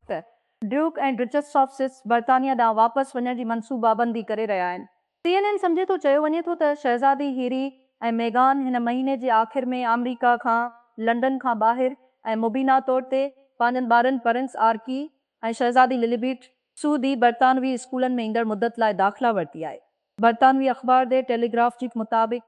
ته duke ۽ duchess of Sussex برطانيا ڏانهن واپس وڃڻ جي منصوبابندي ڪري رهيا آهن. سي اين اين سمجهي ٿو چيو وڃي ٿو ته شهزادي هيري ۽ ميگان هن مهيني جي آخر ۾ آمريڪا کان لنڊن کان ٻاهر ۽ مبينا طور تي پنهنجن ٻارن پرنس آرڪي ۽ شهزادي لليبيٽ سعودي برطانوي اسڪولن ۾ ايندڙ مدت لاء داخلا ورتي آهي. برطانوي اخبار دي ٽيليگراف جي مطابق،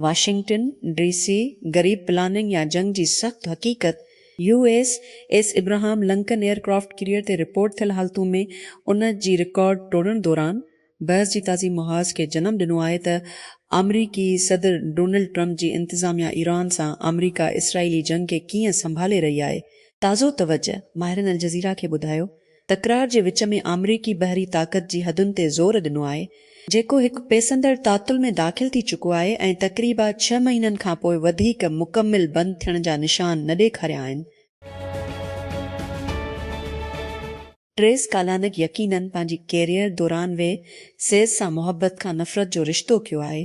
واشنگٽن، ڊي سي، غريب پلاننگ يا جنگ جي سخت حقيقت، U S S Abraham Lincoln aircraft carrier تي رپورٽ ٿيل حالتون ۾ ان جي رڪارڊ ٽوڙڻ دوران بحث جي تازي محاذ کي جنم ڏنو آهي ته آمريڪي صدر ڊونلڊ ٽرمپ جي انتظاميا ايران سان آمريڪا اسرائيلي جنگ کي ڪيئن سنڀالي رهي آهي تازو توجه ماهرن الجزيره کي ٻڌايو تڪرار جي وچ ۾ آمريڪي بحري طاقت جي حدن تي زور ڏنو آهي، جيڪو هڪ پيسندڙ تعطل ۾ داخل ٿي چڪو آهي ۽ تقريبا ڇهه مهينن کان پوء وڌيڪ مڪمل بند ٿيڻ جا نشان نه ڏيکاريا آهن. ٽريس ڪالانڪ يقينن پنهنجي ڪيريئر دوران وي سيز سان محبت کان نفرت جو رشتو ڪيو آهي.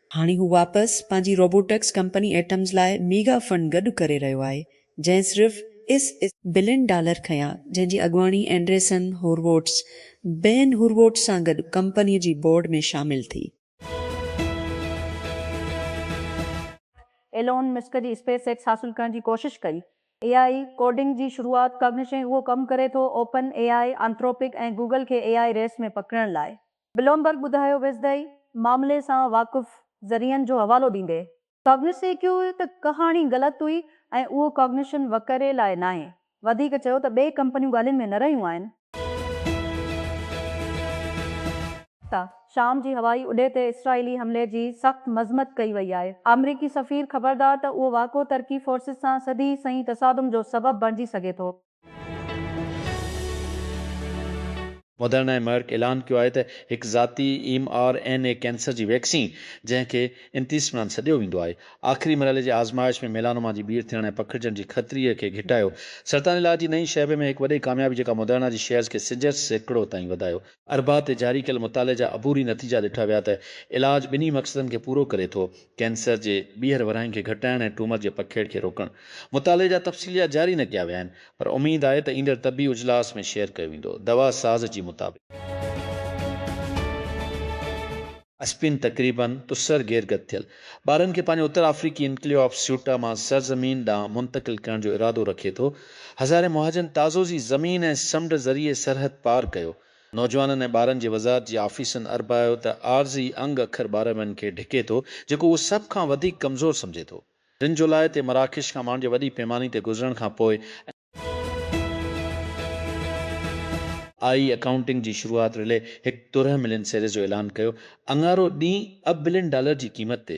هاڻي هو واپس پنهنجي روبوٽڪس ڪمپني ايٽمز لاء ميگا فنڊ گڏ ڪري رهيو آهي، جنهن صرف اس. بلين ڊالر کنيا، جنهن جي اڳواڻي اينڊريسن هورووٽس، بين هورووٽس سان گڏ ڪمپني جي بورڊ ۾ شامل ٿي. ايلون مسڪ جي اسپيس ايڪس حاصل ڪرڻ جي ڪوشش ڪئي. اي آء اي ڪوڊنگ جي شروعات ڪرڻ شين اهو ڪم ڪري ٿو، OpenAI, Anthropic ۽ Google کي اي آء اي ريس ۾ پڪڙڻ لاء. بلومبرگ ٻڌايو ويزدائي معاملي سان واقف ذريعن جو حوالو ڏيندي ڪاگنسي ڪيو ته ڪهاڻي غلط هئي ۽ اهو ڪاگنيشن وڪري لاء ناهي وڌيڪ چيو ته ٻئي ڪمپنيون ڳالهين ۾ نه رهيون آهن. ته شام جي هوائي اڏي تي اسرائيلي حملي جي سخت مذمت ڪئي وئي آهي. آمريڪي سفير خبردار ته اهو واقعو ترڪي فورسز سان سڌي سنئين تصادم جو سبب بڻجي سگهي ٿو. مدرنا ۽ مرڪ اعلان ڪيو آهي ته هڪ ذاتي M R N A cancer جي ويڪسين جنهن کي انتيسمران سڏيو ويندو آهي، آخري مرحلي جي آزمائش ۾ ميلانوما جي ٻيھر ٿيڻ ۽ پکڙجڻ جي خطري کي گهٽايو. سرطان علاج جي نئين شعبي ۾ هڪ وڏي ڪاميابي جيڪا مدرنا جي شيئرز کي سيجهر سيڪڙو تائين وڌايو. اربع تي جاري ڪيل مطالعي جا عبوري نتيجا ڏٺا ويا ته علاج ٻنهي مقصدن کي پورو ڪري ٿو، ڪينسر جي ٻيهر ورهائين کي گهٽائڻ ۽ ٽيومر جي پکيڙ کي روڪڻ مطالعي جا تفصيليات جاري نه ڪيا ويا آهن پر اميد آهي ته ايندڙ طبي اجلاس ۾ شيئر ڪيو ويندو دوا ساز جي مطابق اسپين تقريباً تسر گيرگت ٿيل ٻارن کي پنهنجي اتر آفريقي انڪليو آف سيوٽا مان سرزمين ڏانهن منتقل ڪرڻ جو ارادو رکي ٿو هزارين مهاجرن تازو زي زمين ۽ سمنڊ ذريعي سرحد پار ڪيو نوجوانن ۽ ٻارن جي وزارت جي آفيسن اربايو ته عارضي انگ اکر ٻارڙن کي ڍڪي ٿو جيڪو هو سڀ کان وڌيڪ ڪمزور سمجهي ٿو ٽن جولاء تي مراڪش کان ماڻهن جي وڏي پيماني تي گذرڻ کان پوء اين آء اي اڪائونٽنگ جي شروعات رلي هڪ ترهه ملين سيريز جو اعلان ڪيو اڱارو ڏينهن اب بلين ڊالر جي قيمت تي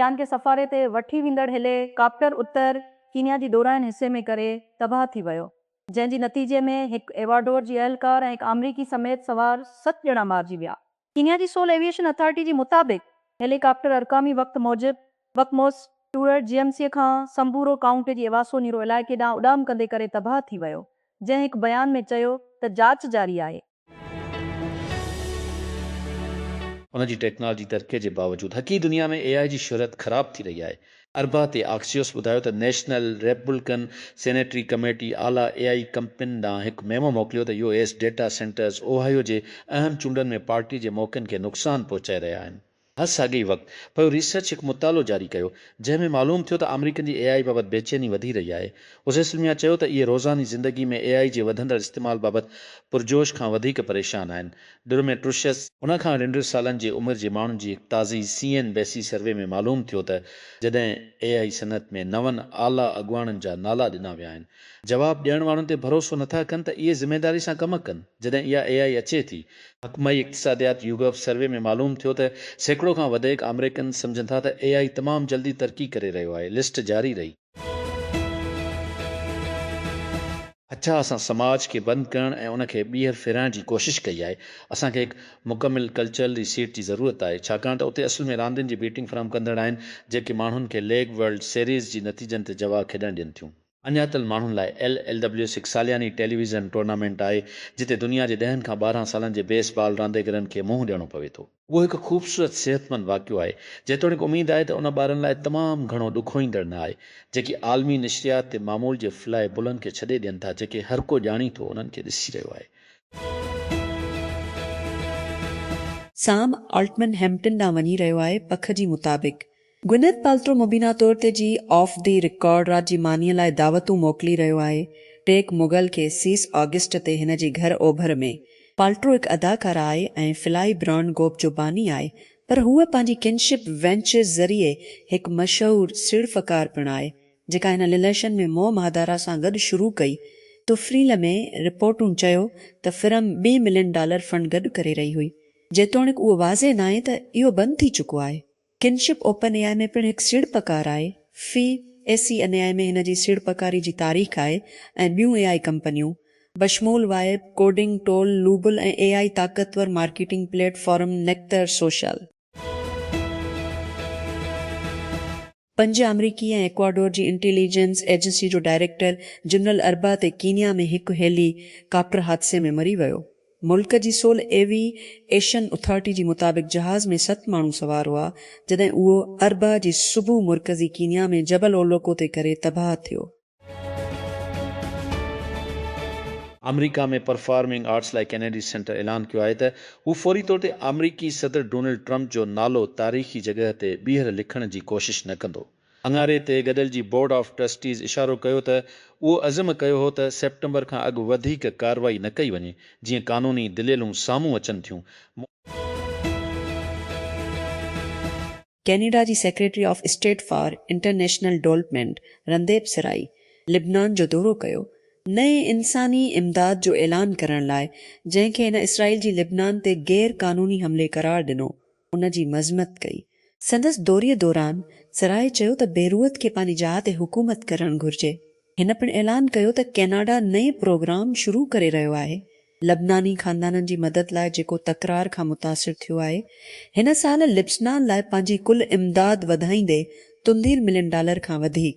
چيان کي سفاري تي وٺي ويندڙ هيلي ڪاپٽر اتر ڪينيا جي ڏورانهين حصي ۾ ڪري تباهه ٿي ويو، جنهن جي نتيجي ۾ هڪ ايواڊور جي اهلڪار ۽ هڪ آمريڪي سميت سوار ست ڄڻا مارجي ويا. ڪينيا جي سول ايويئيشن اٿارٽي جي مطابق هيلي ڪاپٽر ارقامي وقت موجب وڪموس ٽوئرٽ جي ايم سي کان سمبورو ڪائونٽي جي ايواسو نيرو علائقي ڏانهن اڏام ڪندي ڪري تباهه ٿي ويو، جنهن هڪ بيان ۾ چيو ته جاچ جاري آهي. ان جي ٽيڪنالاجي ترقي جي باوجود حقيقي دنيا ۾ اي آء جي شهرت خراب ٿي رهي آهي. اربع تي آڪسيوس ٻڌايو ته نيشنل ريپبلڪن سينيٽري ڪميٽي اعليٰ اي آء ڪمپنين ڏانهن هڪ ميمو موڪليو ته U S data centres Ohio جي اهم چونڊن ۾ پارٽي جي موقعن کي نقصان پهچائي رهيا آهن. هر ساڳئي وقت پيو ريسرچ هڪ مطالعو جاري ڪيو، جنهن ۾ معلوم ٿيو ته آمريڪن جي اي آء بابت بيچيني وڌي رهي آهي. اوسيسلميا چيو ته اهي روزاني زندگي ۾ اي آء جي وڌندڙ استعمال بابت پرجوش کان وڌيڪ پريشان آهن. ڊروميٽروشس، ان کان رنڊر سالن جي عمر جي ماڻهن جي هڪ تازي C N B C survey ۾ معلوم ٿيو ته جڏهن اي آء صنعت ۾ نون اعليٰ اڳواڻن جا نالا ڏنا ويا آهن جواب ڏيڻ وارن تي ڀروسو نٿا ڪن ته اهي ذميداري سان ڪم ڪن جڏهن اها اي آئي اچي ٿي. محڪمه اقتصاديات يوگف سروي ۾ معلوم ٿيو ته سيڪڙو کان وڌيڪ آمريڪن سمجهن ٿا ته اي آئي تمام جلدي ترقي ڪري رهيو آهي، لسٽ جاري رهي. اچا اسان سماج کي بند ڪرڻ ۽ ان کي ٻيهر ڦيرائڻ جي ڪوشش ڪئي آهي. اسان کي هڪ مڪمل ڪلچرل ري سيٽ جي ضرورت آهي ڇاڪاڻ ته اتي اصل ۾ راندين جي بيٽنگ فراهم ڪندڙ آهن جيڪي ماڻهن کي ليگ ورلڊ سيريز جي نتيجن تي جوا کيڏڻ ڏين ٿيون. اڃاتل ماڻهن لاء ايل ايل ڊبليو ايس هڪ سالياني ٽيليويزن ٽورنامينٽ آهي، جتي دنيا جي ڏهن کان ٻارهن سالن جي بيس بال رانديگرن کي منهن ڏيڻو پوي ٿو. اهو هڪ خوبصورت صحتمند واقعو آهي، جيتوڻيڪ اميد آهي ته ان ٻارن لاء تمام گهڻو ڏکوئيندڙ نه آهي، جيڪي عالمي نشريات تي معمول جي فلائي بلن کي ڇڏي ڏين ٿا، جيڪي هر ڪو ڄاڻي ٿو انهن کي ڏسي رهيو آهي. سام آلٽمن هيمپٽن ڏانهن وڃي رهيو آهي، پک جي مطابق گونيٿ پالٽرو مبينا طور تي جي آف دي رڪارڊ رات جي مانيء لاء دعوتون موڪلي رهيو آهي. ٽيڪ مغل کي سيس آگسٽ تي هن جي گهر اوڀر ۾. پالٽرو هڪ اداڪاره آهي ۽ فلائي برانڊ گوپ جو باني آهي پر هوء پنهنجي ڪنشپ وينچرز ذريعي هڪ مشهور سيڙپڪار پڻ آهي جيڪا هن لليشن ۾ موم هادارا سان گڏ شروع ڪئي تفريل ۾ رپورٽون چيو ته فرم ٻي ملين ڊالر فنڊ گڏ ڪري رهي هئي جيتوڻيڪ اهو واضح ناهي ته اهو بند ٿي چڪو آهي. ڪنشپ اوپن اي آء ۾ پڻ هڪ سيڙپڪار آهي. في اي سي ان اي آء ۾ هن جي سيڙپڪاري جي تاريخ آهي ۽ ٻيون اي آء ڪمپنيون، بشمول vibe, coding tool, Lovable ۽ A I طاقتور مارڪيٽنگ پليٽ فارم نيڪتر سوشل. پنج آمريڪي ۽ ايڪواڊور جي انٽيلي جنس ايجنسي جو ڊائريڪٽر جنرل اربع تي ڪينيا ۾ هڪ هيلي ڪاپٽر حادثي ۾ مري ويو. ملڪ جي سول ايوي ايشن اٿارٽي جي مطابق جهاز ۾ ست ماڻهو سوار هئا جڏهن اهو اربع جي صبح مرڪزي ڪينيا ۾ جبل اولوڪو تي ڪري تباهه ٿيو. آمريڪا ۾ پرفارمنگ آرٽس لاء ڪينيڊي سينٽر اعلان ڪيو آهي ته هو فوري طور تي آمريڪي صدر ڊونلڊ ٽرمپ جو نالو تاريخي جڳهه تي ٻيهر لکڻ جي ڪوشش نه ڪندو. اڱاري تي گڏل جي بورڊ آف ٽرسٽيز اشارو ڪيو ته اهو عزم ڪيو هو ته سيپٽمبر کان اڳ وڌيڪ ڪارروائي نه ڪئي وڃي جيئن قانوني دليلون سامهون اچن ٿيون. ڪينيڊا جي secretary of state for international development Randeep Sarai لبنان جو دورو ڪيو، نئين انساني امداد جو اعلان ڪرڻ لاء جنهن کي هن اسرائيل جي لبنان تي غير قانوني حملي قرار ڏنو ان جي مذمت ڪئي. سندس دوري دوران سراء چيو ته بيروت کي پنهنجي جاء تي حڪومت ڪرڻ گهرجي. هن پڻ اعلان ڪيو ته ڪيناڊا نئين پروگرام شروع ڪري رهيو آهي لبناني خاندانن جي مدد لاء جيڪو تڪرار کان متاثر ٿيو آهي. هن سال لبسنان لاء پنهنجي ڪل امداد وڌائيندي تندير ملين ڊالر کان وڌيڪ.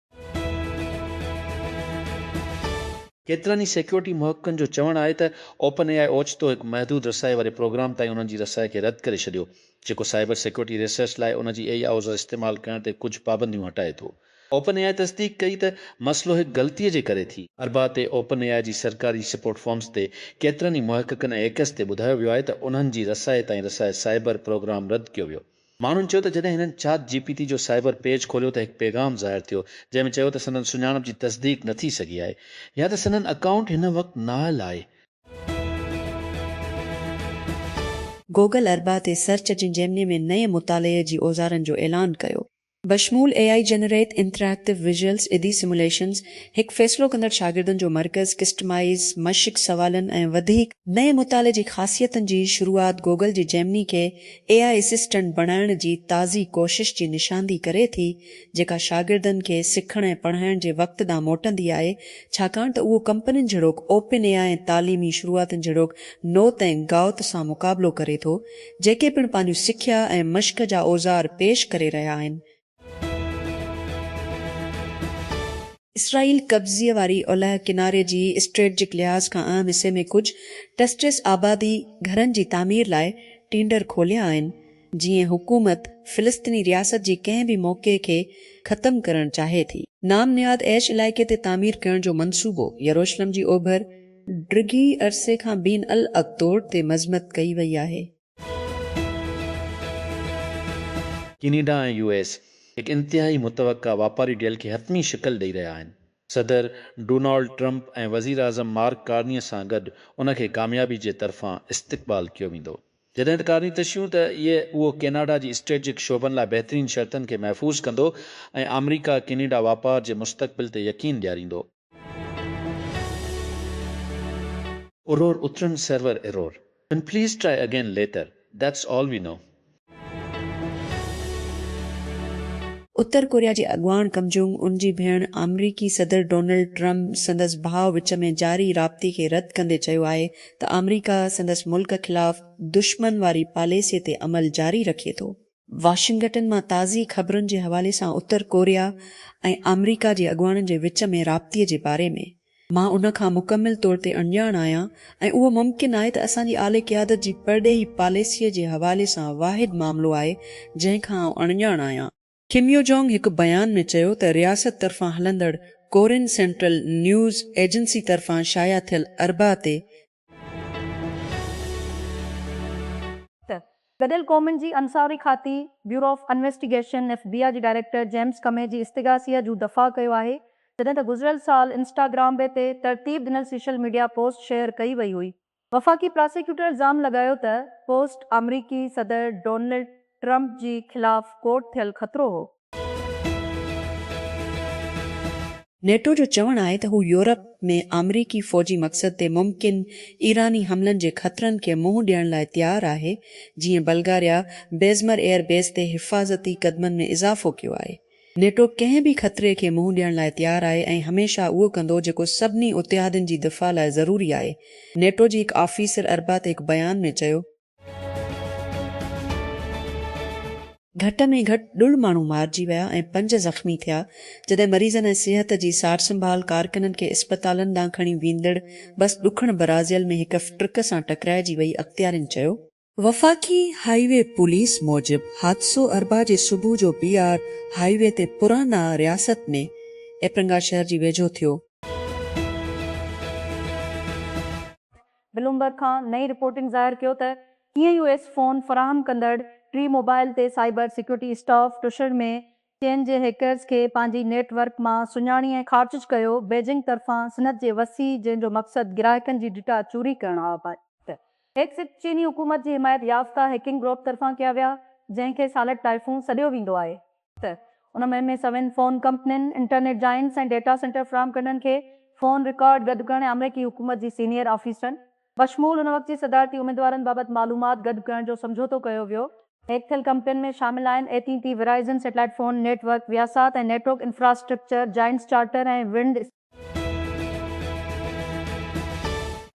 ڪيترن ئي سيڪيورٽي محققن جو چوڻ آهي ته اوپن اي آء اوچتو هڪ محدود رسائي واري پروگرام تائين انهن جي رسائي کي رد ڪري ڇڏيو، جيڪو سائبر سيڪيورٽي ريسرچ لاء ان جي اي آء استعمال ڪرڻ تي ڪجهه پابنديون هٽائي ٿو. اوپن اي آء تصديق ڪئي ته مسئلو هڪ غلطي جي ڪري ٿي. اربع تي اوپن اي آء جي سرڪاري سپورٽ فارمز تي ڪيترن ئي محققن ۽ هيڪرز تي ٻڌايو ويو آهي ته انهن جي رسائي تائين رسائي سائبر پروگرام رد ڪيو ويو. ماڻهن چيو ته جڏهن هنن چاٽ جي پي تي جو سائبر پيج کوليو ته هڪ پيغام ظاهر ٿيو جنهن ۾ چيو ته سندن سڃاڻپ جي تصديق نه ٿي سگهي آهي يا ته سندن اڪائونٽ هن وقت نااهل آهي. گوگل اربع تي سرچ جي جيمني ۾ نئين مطالعي جي اوزارن جو اعلان ڪيو. بشمول اي آئي جنريٽ انٽريڪٽو ويزيولز ادي سموليشنز، هڪ فيصلو ڪندڙ شاگردن جو مرڪز، ڪسٽمائيز، مشق سوالن ۽ وڌيڪ نئين مطالعي جي خاصيتن جي شروعات گوگل جي جيمني کي اي آئي اسسٽنٽ بڻائڻ جي تازي ڪوشش جي نشاندهي ڪري ٿي جيڪا شاگردن کي سکڻ ۽ پڙهائڻ جي وقت ڏانهن موٽندي آهي ڇاڪاڻ ته اهو ڪمپنين جھڙوڪ اوپن اي آئي ۽ تعليمي شروعاتن جھڙوڪ نوت ۽ گائوت سان مقابلو ڪري ٿو جيڪي پڻ پنهنجون سکيا ۽ مشق جا اوزار پيش ڪري رهيا آهن. اسرائيل قبضي واري اولهه ڪناري جي اسٽريٽجڪ لحاظ کان اهم حصي ۾ ڪجهه ٽسٽس آبادي گهرن جي تعمير لاء ٽينڊر کوليا آهن، جيئن حڪومت فلسطيني رياست جي ڪنهن به موقعي کي ختم ڪرڻ چاهي ٿي. نام نهاد ايش علائقي تي تعمير ڪرڻ جو منصوبو يروشلم جي اوڀر، ڊگهي عرصي کان بين الاقطور تي مذمت ڪئي وئي آهي. ڪينيڊا ۽ يو ايس هڪ انتهائي متوقع واپاري ڊيل کي حتمي شڪل ڏئي رهيا آهن. صدر ڊونالڊ ٽرمپ ۽ وزيراعظم مارڪ ڪارني سان گڏ ان کي ڪاميابي جي طرفان استقبال ڪيو ويندو. جڏهن ته ڪارني تشيون ته اهي اهو ڪيناڊا جي اسٽريٽجڪ شعبن لاء بهترين شرطن کي محفوظ ڪندو ۽ آمريڪا ڪينيڊا واپار جي مستقبل تي يقين ڏياريندو. Error اترن سرور Error ان please try again later that's all we know. اتر ڪوريا جي اڳواڻ ڪم جونگ ان جي ڀيڻ آمريڪي صدر ڊونلڊ ٽرمپ سندس ڀاء وچ ۾ جاري رابطي کي رد ڪندي چيو آهي ته آمريڪا سندس ملڪ خلاف دشمن واري پاليسي تي عمل جاري رکي ٿو. واشنگٽن مان تازي خبرن جي حوالي سان اتر ڪوريا ۽ آمريڪا جي اڳواڻن جي وچ ۾ رابطي جي باري ۾ مان ان کان مڪمل طور تي اڻڄاڻ آهيان ۽ اهو ممڪن آهي ته اسان جي اعلي قيادت جي پرڏيهي پاليسيء جي حوالي سان واحد معاملو آهي جنهن کان آئون اڻڄاڻ آهيان. ڪم يو جونگ هڪ بيان ۾ چيو ته رياست طرفان هلندڙ ڪورين سينٽرل نيوز ايجنسي طرفان شايع ٿيل اربع تي ته گڏيل قومن جي انصاري کاتي، bureau of investigation, F B I, جي ڊائريڪٽر جيمز ڪمي جي استغاثي جو دفاع ڪيو آهي، جڏهن ته گذريل سال انسٽاگرام بي تي ترتيب ڏنل سيشل ميڊيا پوسٽ شيئر ڪئي وئي هئي. وفاقي پراسيڪيوٽر الزام لڳايو ته پوسٽ آمريڪي صدر ڊونلڊ ٽرمپ جي خلاف ڪوٽ ٿيل خطرو هو. نيٽو جو چوڻ آهي ته هو يورپ ۾ آمريڪي فوجي مقصد تي ممڪن ايراني حملن جي خطرن کي منهن ڏيڻ لاء تيار آهي، جيئن بلغاريا بيزمر ايئر بيس تي حفاظتي قدمن ۾ اضافو ڪيو آهي. نيٽو ڪنهن به خطري کي منهن ڏيڻ لاء تيار آهي ۽ هميشه اهو ڪندو جيڪو سڀني اتحادين جي دفاع لاء ضروري آهي، نيٽو جي هڪ آفيسر اربع تي هڪ بيان ۾ چيو. گهٽ ۾ گهٽ ڏھھ ماڻھو مارجي ويا ۽ پنج زخمي ٿيا، جڏھن مريضن ۽ صحت جي سار سنڀال ڪارڪنن کي اسپتالن ڏانھن کڻي ويندڙ بس ڏکڻ برازيل ۾ ھڪ ٽرڪ سان ٽڪرائجي وئي، اختيارين چيو. وفاقي هاء وي پوليس موجب حادثو اربع جي صبح جو بي آر هاء وي تي پرانا رياست ۾ ايپرنگا شهر جي ويجهو ٿيو. بلومبرگ کان نئين رپورٽنگ ظاهر ڪيو ته ڪيئن يو ايس فون فراهم ڪندڙ ٽي موبائل تي سائبر سيڪيورٽي اسٽاف ٽشڙ ۾ چين جي هيڪرز کي پنهنجي نيٽ ورڪ مان سڃاڻي ۽ خارجج ڪيو بيجنگ طرفان صنعت جي وسيع جنهن جو مقصد گراهڪن جي ڊيٽا چوري ڪرڻ آهي ته هيڪس چيني حڪومت جي حمايت يافته هيڪنگ گروپ طرفان ڪيا ويا جنهن کي سالٽ ٽائفون سڏيو ويندو آهي ته ان مهم ۾ سوين فون ڪمپنين، انٽرنيٽ جائنٽس ۽ ڊيٽا سينٽر فراهم ڪندڙن کي فون رڪارڊ گڏ ڪرڻ ۽ آمريڪي حڪومت جي سينيئر آفيسرن بشمول ان وقت جي صدارتي اميدوارن بابت معلومات گڏ ڪرڻ جو سمجهوتو ڪيو ويو. هيڪ ٿيل ڪمپنين ۾ شامل آهن A T T, Verizon, satellite phone network, Viasat ۽ network infrastructure giants Charter ۽ ونڊ،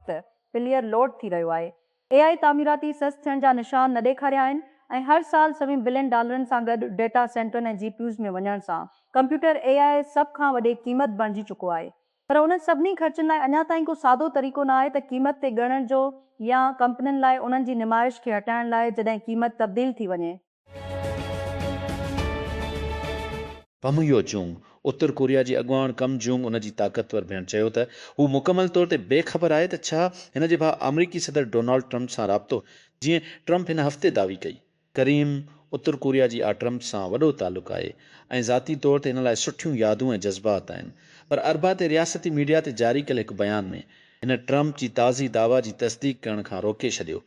ته پليئر لوڊ ٿي رهيو آهي. اي آء تعميراتي سست ٿيڻ جا نشان نه ڏيکاريا آهن ۽ هر سال سوين بلين ڊالرن سان گڏ ڊيٽا سينٽرن ۽ جي پي يوز ۾ وڃڻ سان ڪمپيوٽر اي آء سڀ کان وڏي قيمت بڻجي چڪو آهي پر انهن سڀني خرچن لاء اڃا تائين ڪو سادو طريقو نه آهي ته قيمت تي ڳڻڻ جو يا ڪمپنين لاء انهن جي نمائش کي هٽائڻ لاء جڏهن قيمت تبديل ٿي وڃي. پم يو جونگ، اتر ڪوريا جي اڳواڻ ڪم جونگ ان جي طاقتور ڀيڻ چيو ته هو مڪمل طور تي بي خبر آهي ته ڇا هن جي ڀاء آمريڪي صدر ڊونالڊ ٽرمپ سان رابطو هيو، جيئن ٽرمپ هن هفتي دعوي ڪئي. ڪريم، اتر ڪوريا جي آء ٽرمپ سان وڏو تعلق آهي ۽ ذاتي طور تي هن لاء سٺيون يادون ۽ جذبات آهن پر اربع تي رياستي ميڊيا تي جاري ڪيل هڪ بيان ۾ هن ٽرمپ جي تازي دعويٰ جي تصديق ڪرڻ کان روڪي ڇڏيو